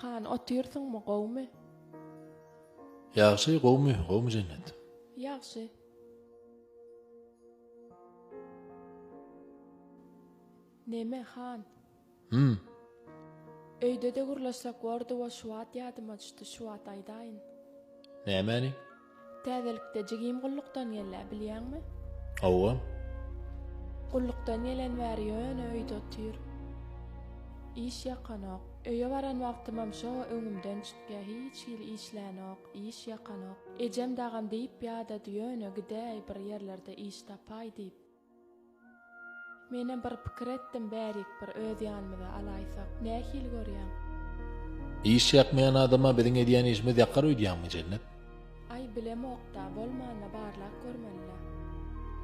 Han otyrsyňmy gowmy. Ýagşy gowmy gowmy jennet. Ýagşy. Neme han. Hum. Öýde-de gürleşsek bordy wo şuwat ýadyma düşdi şuwat aýdaýyn. Nämäni? Täzelikde jigim gullukdan gellä bilýäňmi? Hawa. Gullukdan gelen bäri ýöne öýde otyr. Iş ýakanok. Öýe baran wagtymam şo öňümden çykýa hiç hili işlänok, iş ýakanok. Ejem dagam diýip ýadady ýöne gidäý bir ýerlerde iş tapaý diýip. Menem bir pikir etdim bärik bir öz ýanymyza alaýsak. Nähili görýäň? Iş ýakmaýan adama biziň edýän işimiz ýakar öýdýäňmi Jennet? Aý bilemokda, bolmanda barlap görmelilä.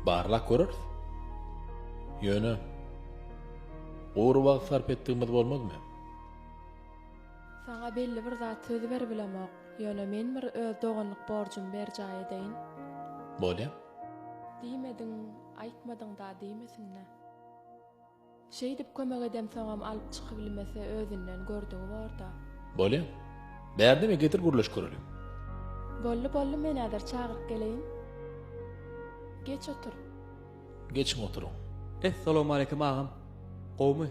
Barlap göreris. Ýöne gury wagt sarp etdigimiz bolmazmy? Saňa belli bir zat söz beribilemok. Ýöne men bir öz doganlyk borjumy berjaý edeýin. Bolýa. Diýmediň, aýtmadyňda diýmesinle. Şeýdip kömek edemsoňam alyp çykybilmese özünden gördügi borda. Bolýa. Bärde we getir gürleşip göreliň. Bolly bolly men häzir çagyryp geleýin. Geç otur. Geçiň oturyň. Es salowmaleýkim agam. Gowmy.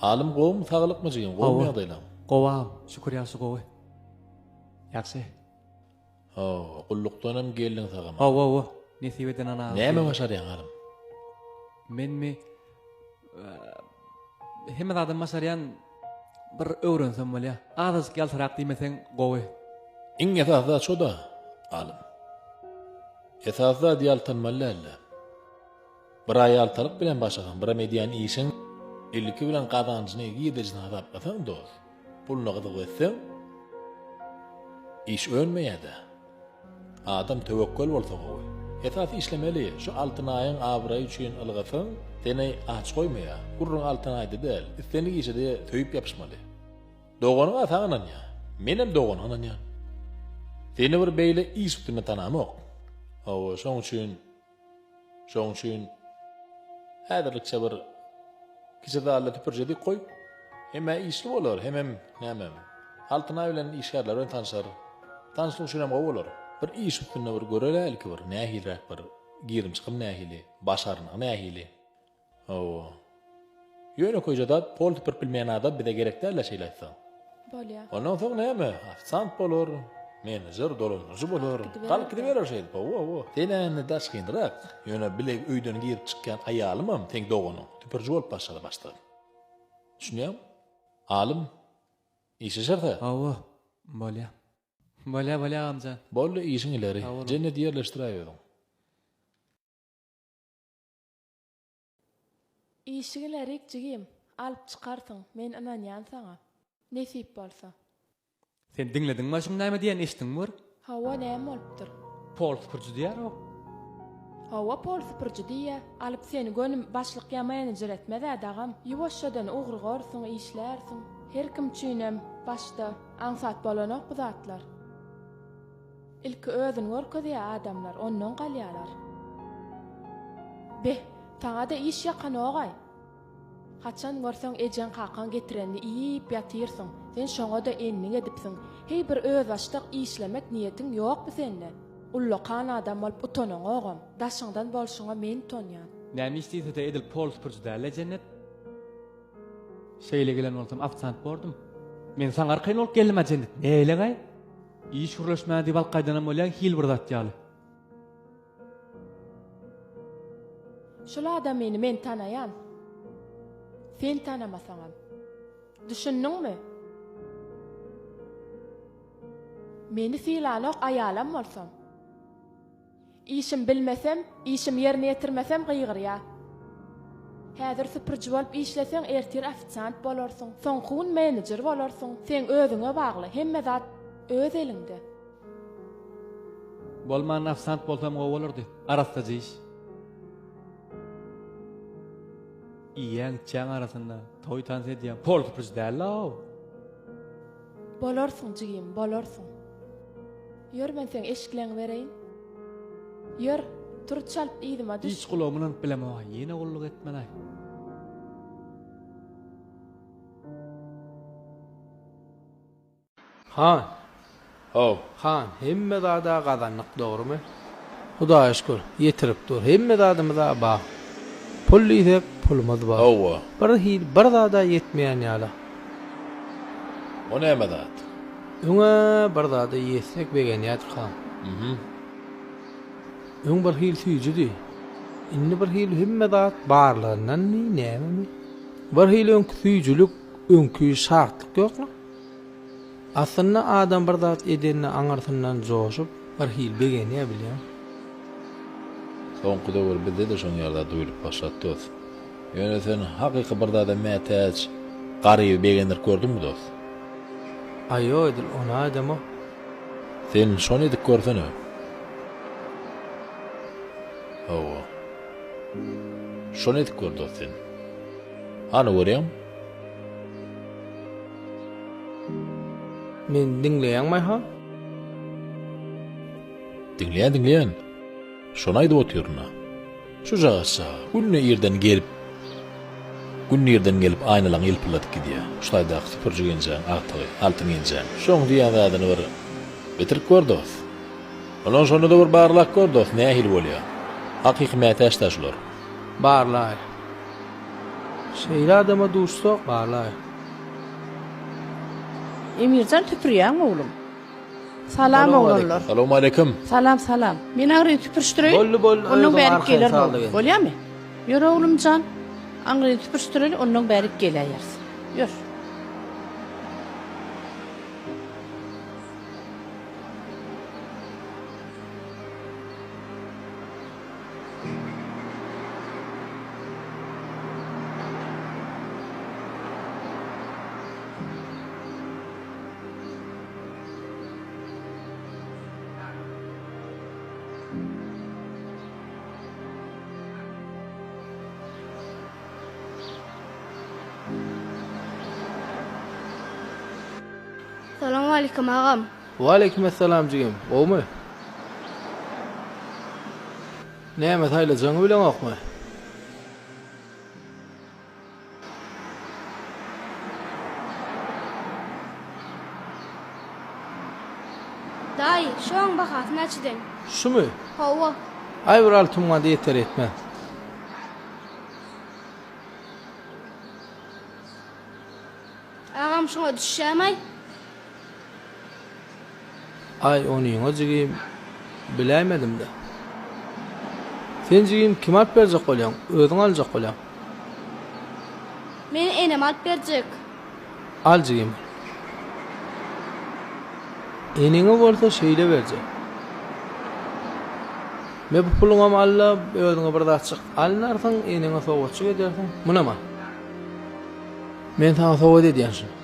Alym gowmy saglykmy jigim gowmy ýagdaýlaň. Gowy agam şükür ýagşy gowy. Ýagşy. Haw, gullukdanam geldiň sagamana. Haw, haw, nesip eden anaga geldik. Näme başarýaň, halym? Menmi? Hemme zadam başarýan, bir öwrensem bolýa. Azajyk ýaltarak diýmeseň gowy. Iň esasy zat şo-da, halym. Esasy zat ýaltanmaly däl-de. Bir aýaltalyk bilen başagaň, biram edýän işiň ilki bilen gazanjyny, girdejini hasaplasaň dost, puluna gyzyk etseň, iş önmeýädä. Adam töwekgel bolsa gowy. Esasy işlemeli, şu Altynaýyň abraýy üçin ylgasaň, seni aç goýmaýa. Gürrüň Altynaýda däl, islendik işede söýüp ýapyşmaly. Doganyňa saň ynanýa. Menem dogana ynanýan. Seni bir beýle iş üstünde tanamok. Hawa, şoň üçin Şoň üçin häzirlikçe bir kiçi zalda süpürjedik goý, hem-ä işli bolar, hemem, näme, Altyn aý bilen işgärler bilen tanşar. Tanşlyk üçinem gowy bolar. Bir iş üstünde bir göreli ilki bir, nähiliräk bir girim-çykym nähili, başarnygy nähili, Hawa. Ýönekeýje zat, polty pirpilmeýän adam bize gerek däl-ä şeýle aýtsaň. Bolýa. Ondan soň näme, ofisant bolar, menejer, dolandyryjy bolar. Galyp gidiberer şeýdip, hawa-hawa. Sen-ä indi daşgynrak. Ýöne bile öýden girip çykýan aýalymam seň doganyň. Tüpürji bolup başlady başdan. Düşünýäňmi? Alym, işleşeris-ä. Hawa, bolýa. Bolýa, bolýa agamjan. Boldy, işiň ileri. Jennet ýerleşdiräýberiň. Işiňi lerik jigim, alyp çykarsyň, men ynanýan saňa. Nesip bolsa. Sen diňlediňmi aşyň näme diýen eşitdiňmi bir. Hawa näme bolupdyr. Pol süpürji diýär o. Hawa pol süpürji diýýä. Alyp seni gönim başlyk ýamaýany jiretmezä dagam. Ýuwaşjadan ugrygorsyň, işlärsiň. Her kim üçinem başda aňsat bolanok bu zatlar. Ilki özüni görkezýä adamlar ondan galýalar. Beh, saňada iş ýakanogaý. Haçan görseň ejeň-kakaň getirenini iýip ýatyrsyň, sen şoňa-da endik edipsiň. Heý bir özbaşdak işlemek niýetiň ýokmy sende? Ullakan adam bolup utanaňogam. Daşyňdan bolşuňa men utanýan. Näme iş diýsede edil pol süpürji däl-le Jennet. Şeýle gelen bolsam ofisant bordum. Men saňa arkaýyn bolup geldim-a Jennet, neýlegaý? Iş gürleşmän diýip alyp gaýdanam bolýar hil bir zat ýaly. Şul adamyny men tanaýan. Sen tanamasaňam. Düşündiňmi? Meni sylanok aýalam bolsam. Işim bilmesem, işim ýerine ýetirmesem gygyrýa. Häzir süpürji bolup işleseň ertir ofisiant bolarsyň, soňky gün menejer bolarsyň, seň özüňe bagly, hemme zat öz eliňde. Bolmanda ofisant bolsam gowy bolardy. Arassaja iş. Iýýäň içýäň arasynda, toý tans edýäň, pol süpürji däl-ow. Bolarsyň jigim, bolarsyň. Ýör men seň eşikleňi bereýin. Ýör, turuç çalyp yzyma düş. Hiç gulagymy ylanyp bilemog-a, ýene gulluk etmen-aý. Han. Haw, han, hemme zad-a gazandyk, dogrumy? Hudaýa şükür, ýetirip dur. Hemme zadymyz-a bar. Pul diýsek, pulumyz bar. Hawa. Birhili bir zad-a ýetmeýän ýaly. O näme zat? Öňe bir zada ýetsek begenýädika. Uhum. Öň bir hili süýjidi. Indi bir hili hemme zat barlygyndanmy, nämemi? Bir hili öňki süýjülik, öňki şatlyk ýokmy? Aslynda adam bir zat edende aňyrsyndan joşup, bir hili begenýär bilýäň. Soňky döwür bizde-de şoň ýaly zat duýlup başlady dos. Ýöne sen hakyky bir zada mätäç Garyby begendirip gördüňmi, dost? Aýo, edil ony aýdama. Sen şony edip görsene. Hawa. Şony edip gör, dost, sen. Hany, görýäňmi? Meni diňleýäňmi, Aýhan? Diňleýän, diňleýän. Şony aýdyp otyryn-a. Şujagazça, günde irden gelip, günde irden gelip aýnalaňy ýylpyldadyp gidýä. Şu taýdaky süpürji genjeň, agtygy, Altyn genjeň. Şoň diýen zadyny bir bitirip gör, dost. Ondan şonda-da bir barlap gör, dost, nähili bolýa. Hakyky mätäç-dä şular. Barlaý. Şeýle adama duşsak, barlaý. Emirjan süpürýäňmi, oglum? Salam oglanlar. Salowmaleýkim. Salam salam. Men aňryny süpürişdireýin. Boldy boldy ondan bärik geler bol. Bolýamy? Ýör oglumjan. Aňryny süpürişdireli ondan bärik geläýeris. Ýör. Salam aleyküm agam. Waleýkim essalam jigim, gowmy? Näme saýlajagyňy bileňokmy? Daýy, şu aň bahasy näçeden? Şumy? Hawa. Aý bir alty muňa-da ýeter ýetmez. Agam şuňa düşýämaý? Aý onyňa jigim biläýmedimdä. Sen jigim kime alyp berjek bolýaň, özüň aljak bolýaň. Meni enem alyp berjek. Al jigim. Eneňe bolsa şeýle berjek. Me bu puluňam al-da, özüňe bir zatjyk alynarsyň, eneňe sowgatjyk edersiň. Munam al. Men saňa sowgat edýän şuny.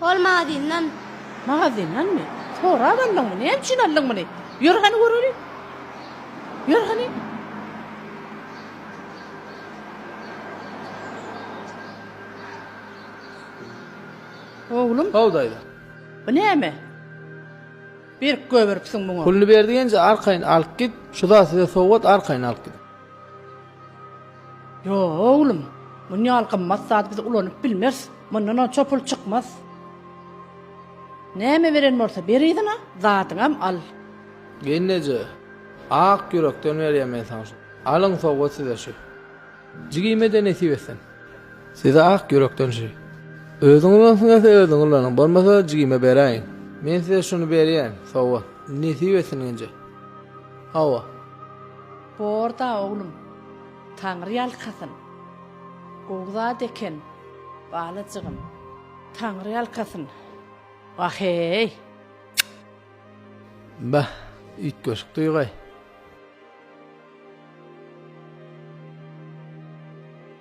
Hol magazyndan. Magazyndanmy? Sorap aldyňmy? Näme üçin aldyň muny? Ýör hany göreliň. Ýör hany. Oglum. How daýza. Bu näme? Berk göberipsiň muňa. Puluny berdigenje arkaýyn alyp git, şu zat size sowgat arkaýyn alyp gidiň. Ýok, oglum, muny ýaly gymmat zady biz ulanyp bilmeris. Mundan onça pul çykmaz. Näme beren bolsa ber yzyna, zadyňam al. Gelneje, ak ýürekden berýän men saňa şu. Alyň sowgat size şu. Jigime-de nesip etsin. Size ak ýürekden şu. Özüňiz bolsun gelse özüňiz ulanyň, bolmasa jigime beräýiň. Men size şuny berýän, sowgat. Nesip etsin Genje. Hawa. Borda oglum, Taňry ýalkasyn. Gowy zat eken, balajygym. Taňry ýalkasyn. Wah-eý! Bah, üýtgeşik duýgy.